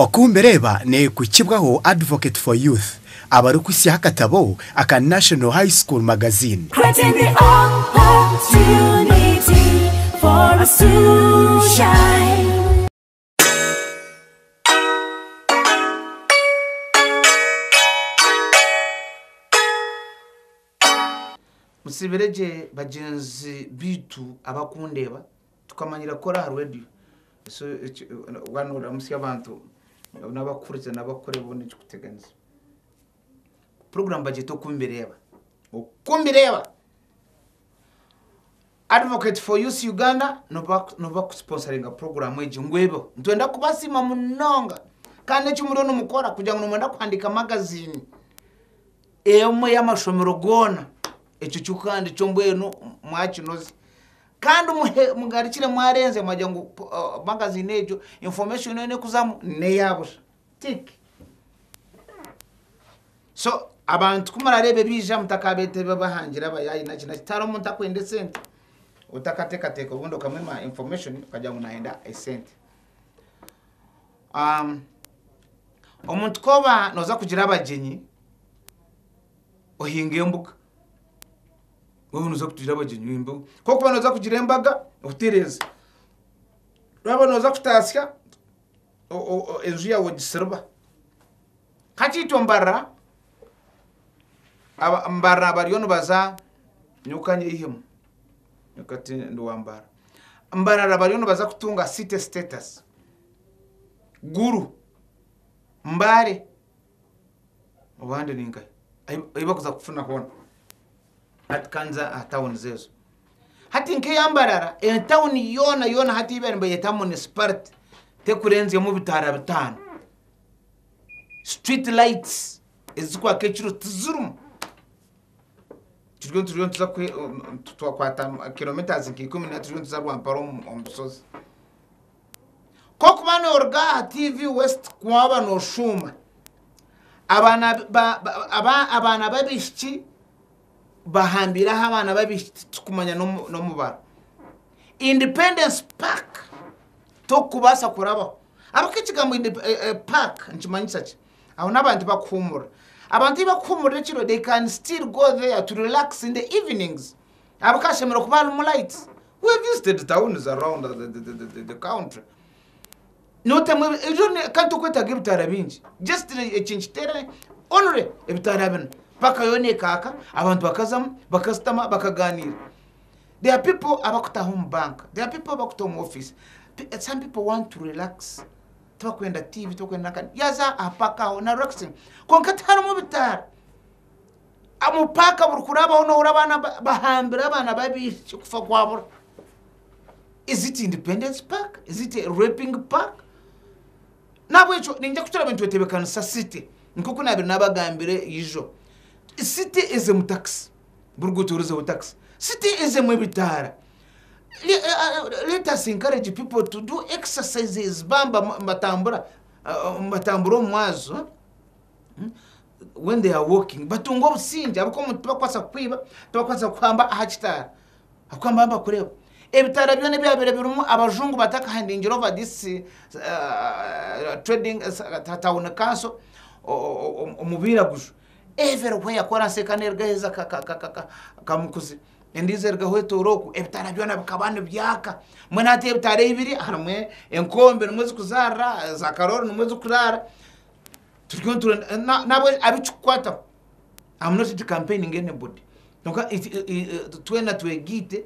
Oku mbireeba n'ekuhikibwaho Advocate for Youth abarikuhitsyaho akatabo aka National High School Magazine. Creating the opportunity for us to shine. Mutsiibire gye bagyenzi baitu abakundeeba. Tukamanyira kukora aha radio so waaba nooramusya abantu n'abakuhurikiza n'abakukore boona ekikuteganisa. Puroguraamu bagyeta oku mbireeba, oku mbireeba Advocate for Youth Uganda nibo bakusiponsaringa puroguraamu egi ngu ebeho. Nitwenda kubasiima munonga kandi eki muriyo nimukora kugira ngu nimwenda kuhandiika magaziini emwe y'amashomero goona ekyo kikuhandiikye mbwenu mwakinoze. Kandi muhe mugarukire mwarenze mwagira ngu uh, magazine egyo information yoona ekuzamu neya busha. Tick. So abantu kumurareeba ebiija mutakabeeta ebibahangira abayaayi naki naki tihariho omuntu akwenda esente otakateekateeka obundi okamwima information okagira ngu nayenda esente. Um, omuntu koba noza kugira abagyenyi ohinga embuga Wewe noza kugira abagyenyi mbu kokuba noza kugira embaga otereza waba noza kutasya enju yawe ogisiriba kakyeitwe mbarira mbarira bariyo nibaza nyowe kanyeyihemu nyowe kati ndi wa mbarira mbarira bariyo nibaza kutunga city status gulu mbare. Obande ni nkahi ei- ei bakuza kufuna hoona hati kanza aha tawunizi ezo hati nk'eya mbarara etawuni yoona yoona hati ei bariyo nibayeta municipality tekurenzyamu bitaara bitaano street lights ezikwaka ekiro tizirimu turiyo nituriyo nituza kwe- twakwata kilometres nka ikumi na turiyo nituza rwampara omu omu busozi. Kokuba noruga aha TV West waba noshuuma abaana babishiki bahambire aha abaana babishiki titukumanya nomubaro independence park tokubasa kurabaho ahabwaki ekigambo park nikimanyisa ki aho nabantu bakuhumurira abantu eyi bakuhumurira ekiro they can still go there to relax in the evenings Abu kashemerire kuba harimu lights. We visited towns around the, the, the, the, the country. Notemwa ebi- ebyo ne- kandi tokwetaga ebitaara bingi. Just ne- eki nkiteere only ebitaara bina. Paka yoona ekaaka, abantu bakazamu, bakasitama, bakaganiira. There are people abakutaho omu banka. There are people abakutaho omu office. Pe- eh, Some people want to relax. Tibakwenda TV, tibakwenda nakani. Yaza aha paka aho na relaxing. Kwonka tiharimu bitaara. Omupaaka burikurabaho n'ohurira abaana bahambire abaana b'abaishiki kufa kwabura. Is it independence park? Is it a raping park? Nahabwekyo niinyija kukira abantu bateebekanisa city nk'oku naabaire naabagambire ijo. City ezemu takisi, buri ruguuto rurizeho takisi. City ezemu ebitaara. Let us encourage people to do exercises baaba nibatambura, nibatambura omu mwazyo. when they are walking batunga obusingye ahabw'okuba omuntu tibakubaasa kukwiba tibakubaasa kukuhamba aha kitaara ahabw'okuba nibaba nibakureeba ebitaara byona ebyabaire birimu abajungu batakahandingire over this trading town council omu bairaguju every where ku oraseeka haine eriga aheeza kamukuzi endiijo eriga hwetoora oku ebitaara byona bikaba nibyaaka mbwenu hati ebitaara ei biri harimu enkombe nimwo zirikuzaarira za karoori nimwo zirikuraara. turiyo nitura nabo abikikukwataho am not into campaigning anybody kwonka twena twegaite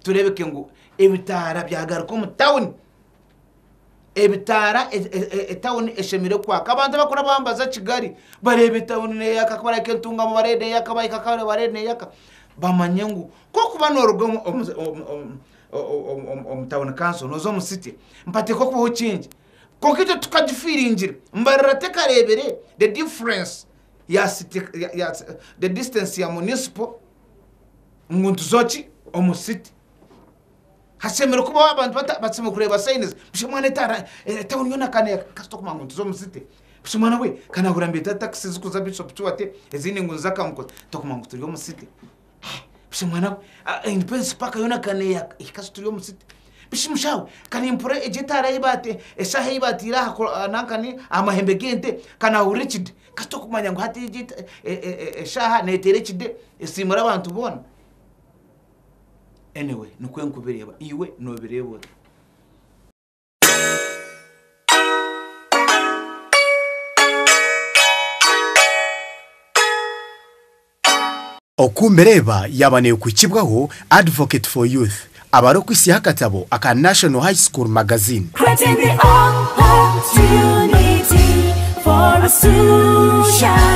tureebeke ngu ebitaara byagaruka omu tawuni ebitaara etawuni eshemereire kwaka abantu abarikuba nibaza kigali bareeba etawuni neyaka ku barikureeba entuungamu bareeba neyaka bahika kare bareeba neyaka bamanye ngu kwokuba noruga omu tawuni kanso noza omu site mpateeka okubaho change Kwonka egyo tukagifiiringira. Mbarira tekareebire the difference ya city, the distance ya municipal ngu ntuzo ki omu city. Hashemereire kubaho abantu bata, basemeriire kureeba signs. Busha mwana etaara, town yoona ka ne, kasita okumanya ngu ntuzo omu city. Busha mwana we, ka naahurira nibeeta taxi zikuza Bishop Kiwate, ezindi ngu niza Kamukuza, tokumanya ngu turi omu city. Busha mwana we aine pensi paaka yoona akaba neeyaka. Ei kasita ori omu siti. Bishi mushaho kare mpurira egyo etaara ei baate eshaaha ei baateire aha ku nankani aha mahembe g'ente ka naahurira ekide. Kasita okumanya ngu hati egi eta e e e eshaaha neeteera ekide esiimura abantu boona. Anyway nikwo nkubireeba. Iwe noobireeba ota? Oku mbireeba yaaba neekuhikibwaho, Advocate for Youth abare okwitsyaho akatabo aka National High School Magazine. Creating the opportunity for us to shine.